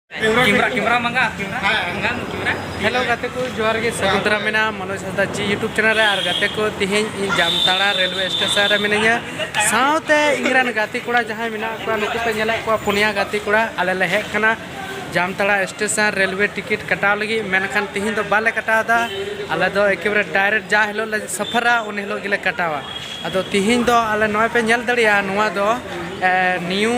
camera ᱠᱮᱢᱨᱟ ᱢᱟᱝᱜᱟ ᱠᱮᱢᱨᱟ ᱢᱟᱝᱜᱟ ᱠᱮᱢᱨᱟ ᱦᱮᱞᱳ ᱜᱟᱛᱮ ᱠᱚ ᱡᱚᱦᱟᱨ ᱜᱮ ᱥᱟᱹᱜᱩᱱ ᱫᱟᱨᱟᱢ ᱢᱮᱱᱟ ᱢᱚᱱᱳᱡᱽ ᱦᱟᱸᱥᱫᱟ ᱡᱤ ᱭᱩᱴᱩᱵᱽ ᱪᱮᱱᱮᱞ ᱨᱮ ᱟᱨ ᱜᱟᱛᱮ ᱠᱚ ᱛᱮᱦᱮᱧ ᱤᱧ ᱡᱟᱢᱛᱟᱲᱟ ᱨᱮᱞᱣᱮ ᱥᱴᱮᱥᱚᱱ ᱨᱮ ᱢᱤᱱᱟᱹᱧᱟ ᱥᱟᱶᱛᱮ ᱤᱧ ᱨᱮᱱ ᱜᱟᱛᱮ ᱠᱚᱲᱟ ᱡᱟᱦᱟᱸᱭ ᱢᱮᱱᱟᱜ ᱠᱚᱣᱟ ᱱᱩᱠᱩ ᱯᱮ ᱧᱮᱞᱮᱫ ᱠᱚᱣᱟ ᱯᱩᱱᱭᱟ ᱜᱟᱛᱮ ᱠᱚᱲᱟ ᱟᱞᱮ ᱞᱮ ᱦᱮᱡ ᱠᱟᱱᱟ ᱡᱟᱢᱛᱟᱲᱟ ᱥᱴᱮᱥᱚᱱ ᱨᱮᱞᱣᱮ ᱴᱤᱠᱤᱴ ᱠᱟᱴᱟᱣ ᱞᱟᱹᱜᱤᱫ ᱢᱮᱱᱠᱷᱟᱱ ᱛᱮᱦᱮᱧ ᱫᱚ ᱵᱟᱞᱮ ᱠᱟᱴᱟᱣᱫᱟ ᱟᱞᱮ ᱫᱚ ᱮᱠᱮᱵᱟᱨᱮ ᱰᱟᱭᱨᱮᱠᱴ ᱡᱟ ᱦᱤᱞᱳᱜ ᱞᱮ ᱥᱟᱯᱷᱟᱨᱟ ᱩᱱ ᱦᱤᱞᱳᱜ ᱜᱮᱞᱮ ᱠᱟᱴᱟᱣᱟ ᱟᱫᱚ ᱛᱮᱦᱮᱧ ᱫᱚ ᱟᱞᱮ ᱱᱚᱜᱼᱚᱭ ᱯᱮ ᱧᱮᱞ ᱫᱟᱲᱮᱭᱟᱜᱼᱟ ᱱᱚᱣᱟ ᱫᱚ ᱱᱤᱭᱩ